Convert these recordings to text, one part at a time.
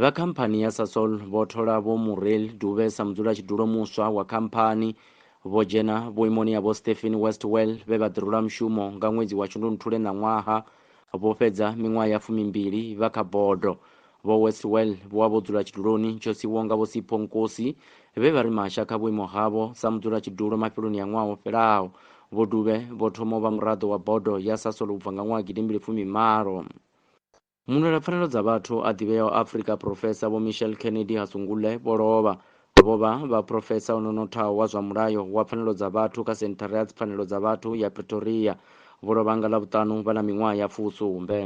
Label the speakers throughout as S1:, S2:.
S1: Vha khamphani ya Sasol vho thola Vho Muriel Dube sa mudzulatshidulo muswa wa khamphani. Vho dzhena vhuimoni ha Vho Stephen Westwell vhe vha ḓirula mushumo nga ṅwedzi wa Shundunthule ṋaṅwaha. Vho fhedza miṅwaha ya fumimbili vha kha bodo. Vho Westwell vho wa vho dzula tshiduloni tsho siwaho nga Vho Sipho Nkosi vhe vha ri masha kha vhuimo havho sa mudzulatshidulo mafheloni a ṅwaha wo fhelaho. Vho Dube vho thoma u vha muraḓo wa bodo ya Sasol u bva nga ṅwaha gidimbili fumi malo. Mulwelapfanelo dza vhathu a ḓivheaho Afrika Phurofesa Vho Michelle Kennedy Hasungule vho lovha. Vho vha vha phurofesa o no nothaho wa zwa mulayo wa pfanelo dza vhathu kha Senthara ya Dzipfanelo dza Vhathu ya Pretoria. Vho lovha nga Ḽavhuṱanu vha na miṅwaha ya fusumbe.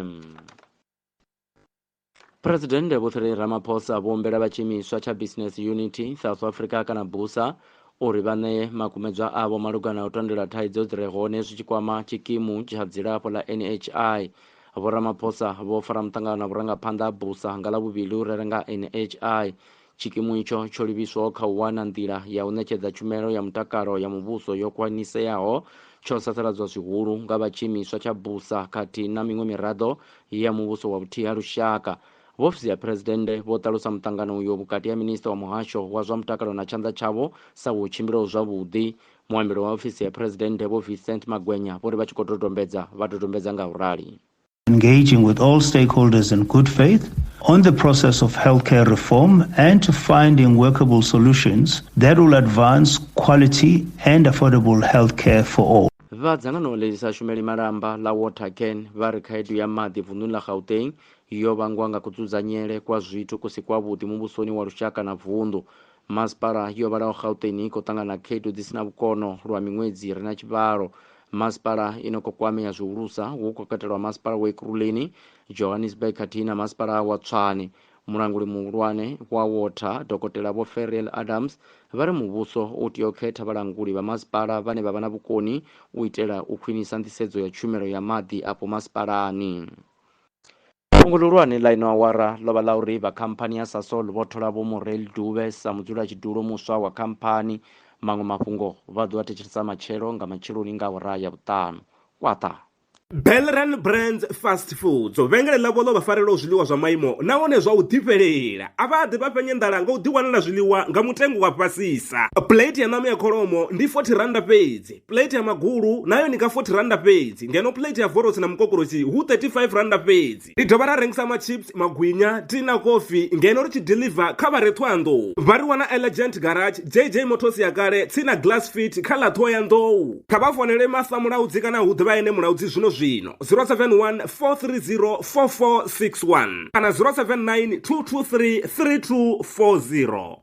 S1: Phresidennde Vho Cyril Ramaphosa vho humbela vha tshiimiswa tsha Business Unity South Africa kana BUSA uri vha ṋee makumedzwa avho malugana u tandulula thaidzo dzi re hone zwi tshi kwama tshikimu tsha dzilafho ḽa NHI Vho Ramaphosa vho fara muṱangano na vhurangaphanḓa ha BUSA nga Ḽavhuvhili hu rere nga NHI. Tshikimu itsho tsho livhiswaho kha u wana nḓila ya u ṋetshedza tshumelo ya mutakalo ya muvhuso yo khwaniseaho tsho sasaladzwa zwihulu nga vha tshiimiswa tsha BUSA khathihi na miṅwe miraḓo ya muvhuso wa vhuthihi ha lushaka. Vho Ofisi ya Phresidennde vho ṱalusa muṱangano uyo vhukati ha Minisiṱa wa Muhasho wa zwa Mutakalo na tshanḓa tshavho sa wo tshimbilaho zwavhuḓi Muambeli wa ofisi ya Phresidennde Vho Vincent Magwenya vho ri vha tshi khou dodombedza vha dodombedza nga u rali. engaging with
S2: all stakeholders in good faith on the process of healthcare reform and to finding workable solutions that will advance quality and affordable healthcare for all. Vha dzangano ḽi
S1: sa shumeli malamba ḽa Watercan vha ri khaedu ya maḓi vunḓuni ḽa Gauteng yo vhangwa nga kudzudzanyele kwa zwithu ku si kwavhuḓi muvhusoni wa lushaka na vunḓu Masipala yo vhalaho Gauteng i khou ṱangana na khaedu dzi si na vhukono lwa miṅwedzi i re na tshivhalo. Masipala i no khou kwamea zwihulusa hu khou katelwa masipala wa Ekurhuleni, Johannesburg khathihi na masipala wa Tshwane. Mulanguli muhulwane wa Water, Dokotela Vho Feriel Adams, vha ri muvhuso u tea u khetha vhalanguli vha masipala vhane vha vha na vhukoni u itela u khwinisa nḓisedzo ya tshumelo ya maḓi afho masipalani. Fhungo ḽihulwane ḽa ino awara ḽo vha ḽa uri vha khamphani ya Sasol vho thola Vho Morrell Dube sa mudzulatshidulo muswa wa khamphani. Maṅwe mafhungo vha ḓo a thetshelesa matshelo nga matsheloni nga awara ya vhuṱanu. Kwaṱa. Belran
S3: Brands Fast Foods, vhengele ḽavho ḽo vha farelaho zwiḽiwa zwa maimo nahone zwa u ḓifhelela. A vha ḓi vha fhenya nḓala nga u ḓiwanela zwiḽiwa nga mutengo wa fhasisa. Plate ya ṋama ya kholomo ndi R40 fhedzi. Plate ya magulu nayo ni ka 40 randa fhedzi ngeno plate ya vorotsi na mukokorosi hu 35 randa fhedzi. Ri dovha ra rengisa machips, magwinya, tea na kofi ngeno ri tshi deliver kha vha re Thohoyandou. Vha ri wana Elegant Garage, JJ Motors ya kale, tsini na Glass Fit kha ḽa Thohoyandou. Kha vha founele Martha Mulaudzi kana hu ḓivha ene Mulaudzi zwino zwino, 071 430 4461 kana 079 223 3240.